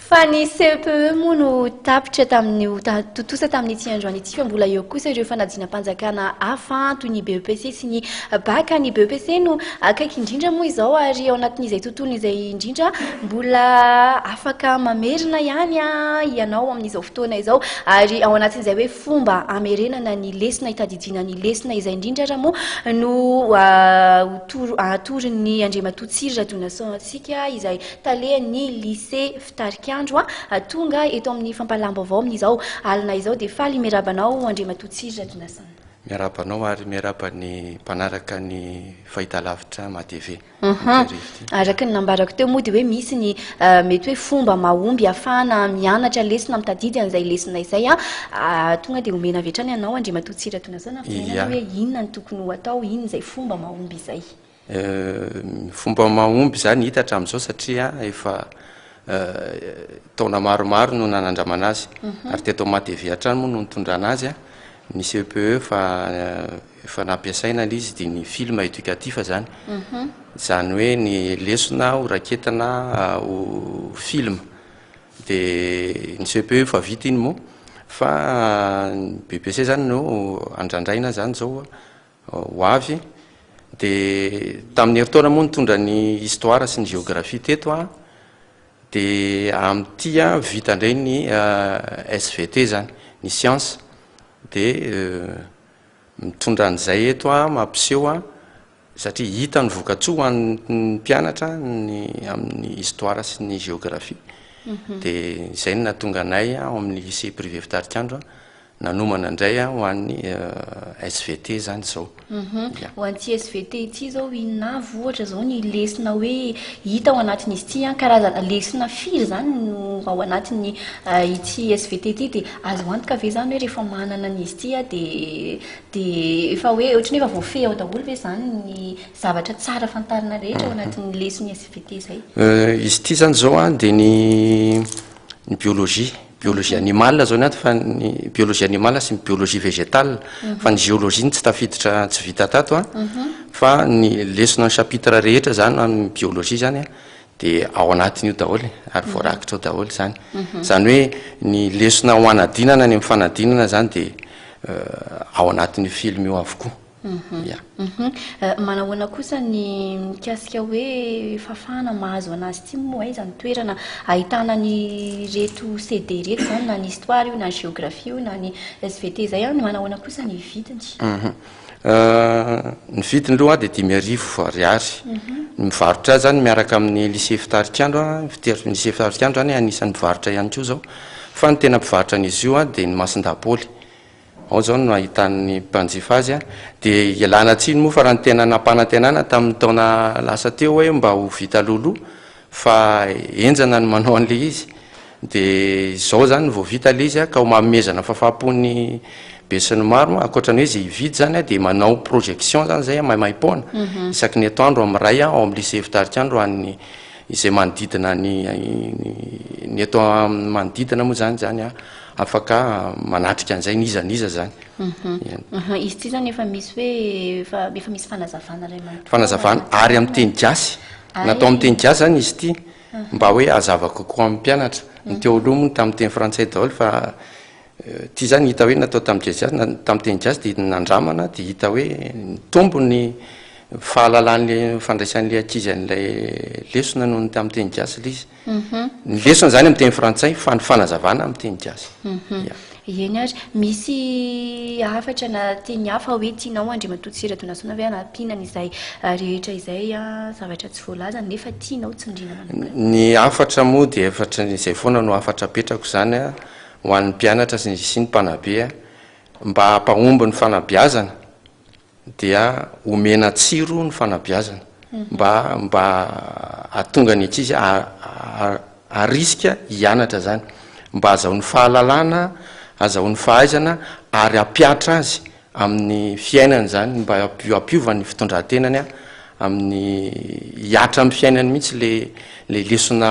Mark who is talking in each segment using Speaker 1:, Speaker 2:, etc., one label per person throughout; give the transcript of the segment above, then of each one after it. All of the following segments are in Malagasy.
Speaker 1: Fa ny CEPE moa no tapitra tamin'io, tontosa tamin'ity androany ity, fa mbola eo kosa ireo fanadinam-panjakana hafa toy ny BEPC sy ny BAC. Ny BEPC no akaiky indrindra moa izao ary ao anatin'izay tontolo izay indrindra mbola afaka mamerina ihany ianao amin'izao fotoana izao ary ao anatin'izay hoe fomba hamerenana ny lesona, hitadidiana ny lesona izay indrindra ary moa no hatorin'ny Andriamatoa Tsiry Radonasona antsika izay tale ny lycée Fitarikandro a! tonga eto amin'ny fampahalahambaovao amin'izao alina izao dia faly miaraba anao Andriamatoa Tsiry Ratonasana. Miaraba anao ary
Speaker 2: miaraba ny mpanaraka ny fahitalavitra Matv Mampirivo ity.
Speaker 1: Araka ny nambarako teo moa dia hoe misy ny mety hoe fomba mahomby ahafahana mianatra lesona mitadidy an'izay lesona izay a! tonga dia omena avy hatrany anao Andriamatoa Tsiry Ratonasana ny fitenenana hoe inona no tokony ho atao, inona izay fomba mahomby izay.
Speaker 2: Fomba mahomby izany hita hatramin'izao satria efa taona maromaro no nanandramana azy mhm. ary teto Matevy hatrany moa no nitondrana azy ny CEPE e fa efa nampiasaina ilay izy dia ny film éducatif izany mhm. izany hoe ny lesona ho raketina ho film dia ny CEPE e efa vita iny moa fa ny BPC izany no andrandraina izany izao ho avy, dia tamin'ny herintaona moa nitondra ny histoire sy ny géographie teto an, dia amin'ity an vita indray ny SVT izany, ny science, dia mitondra an'izay eto an, mampiseho an, satria hita ny vokatsoa ho an'ny mpianatra ny amin'ny histoire sy ny géographie, dia izay no nahatonga anay ao amin'ny lycée privé Fitarikandro an, Nanomana indray an ho an'ny SVT izany izao. Ho an'ity
Speaker 1: SVT ity izao inona avy ohatra izao ny lesona hoe hita ao anatin'izy ity an, karazana lesona firy izany no ao anatin'ny ity SVT ity dia azo antoka ve izany hoe rehefa manana an'izy ity aho dia dia efa hoe ohatran'ny hoe efa voafehy ao daholo ve izany ny zavatra tsara fantarina rehetra ao anatin'ny leson'ny SVT izay? Izy ity izany
Speaker 2: izao an dia ny ny biologie. biologie animale zao ny ato fa ny biologie animale sy ny biologie végétale mhm. fa ny géologie ny tsy tafiditra tsy vita tato a mhm. fa ny lesona ny chapitre rehetra zany amin'ny biologie zany a dia ao anatin'io daholo e, ary mhm. voarakitra ao daholo zany zany hoe ny lesona ho anadinana ny amin'ny fanadinana zany dia euh, ao anatin'io film io avokoa Ia.
Speaker 1: Manahoana kosa ny mikasika hoe fahafahana mahazo anazy ity moa aiza ny toerana ahitana an'ireto CD ireto izany na ny histoire io na ny géographie io na ny svt izay an, manahoana kosa ny vidiny?
Speaker 2: Ny vidiny aloha dia dimy arivo ariary. Ny mivarotra azy izany miaraka amin'ny lycée Fitarikandro, ny lycée Fitarikandro izany anisan'ny mivarotra ihany koa izao fa ny tena mpivarotra an'izy io dia ny Masindaha Paoly. Ao izao no ahitan'ny mpanjifa azy. Dia ialana tsiny moa fa raha ny tena nampanantenana tamin'ny taona lasa teo hoe mba ho vita alohaloha fa henjana ny manao an'ilay izy. Dia izao izany vao vita ilay izy ka homamezana fafam-po ny besinimaro. Ankoatra ny hoe izay hividy izany dia manao projection izany izay maimaim-poana isaky ny etoandro amin'ny iray ao amin'ny lycée Fitarikandro ho an'ny izay manodidina ny ny eto amin'ny manodidina moa izany izany Afaka manatrika an'izay n'iza n'iza izany. Eny.
Speaker 1: Izy ity izany efa misy hoe efa efa misy fanazavana iray manontolo. Fanazavana
Speaker 2: ary amin'ny teny gasy. Natao amin'ny teny gasy izany izy ity mba hoe hazava kokoa amin'ny mpianatra. Ny teo aloha moa tamin'ny teny frantsay daholo fa ity izany hita hoe natao tamin'ny gasy tamin'ny teny gasy dia nandramana dia hita hoe nitombo ny fahalalany fandraisan'ilay ankizy an'ilay lesona noho ny tamin'ny teny gasy ilay izy. Ny lesona izany amin'ny teny frantsay fa ny fanazavana amin'ny teny gasy. Ya. Eny
Speaker 1: ary. Misy hafatra na teny hafa hoe tianao Andriamatoa Tsy Radonasoana ve hanampiana an'izay rehetra izay zavatra tsy voalazany nefa tianao tsindriana manokana? Ny hafatra
Speaker 2: moa dia hafatra izay foana no hafatra apetrako izany ho an'ny mpianatra sy ny mpanabe mba hampahomby ny fanabeazana. dia omena tsiro ny fanabeazana mba mba ahatonga ny ankizy haharisika hianatra izany, mba hazahoany fahalalana, hazahoany fahaizana ary hampiatra azy amin'ny fiainany izany, mba hampiova ny fitondran-tenany amin'ny hihatra amin'ny fiainany mihitsy ilay ilay lesona.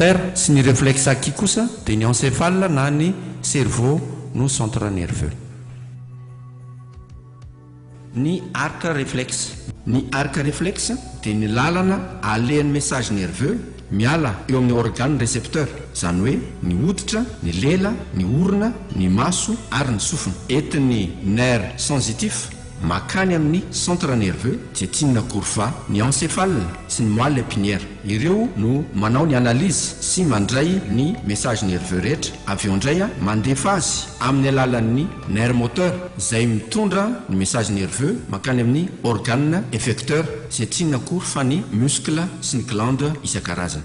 Speaker 3: Moteur sy ny reflexe acquis kosa dia ny encéphale na ny cerveau no centre nerveux. Ny arc reflexe. Ny arc reflexe dia ny lalana alehan'ny message nerveux miala eo amin'ny organe récepteur, izany hoe ny hoditra, ny lela, ny orona, ny maso ary ny sofina. Entin'ny nerf sensitif Makany amin'ny centre nerveux, dia tian'ny akory fa ny encéphale sy ny moelle épinière. Ireo no manao ny analyse sy mandray ny message nerveux rehetra, avy eo indray mandefa azy amin'ny alalan'ny nerf moteur izay mitondra ny message nerveux mankany amin'ny organe effecteur izay tian'ny akory fa ny muscle sy ny glande isan-karazany.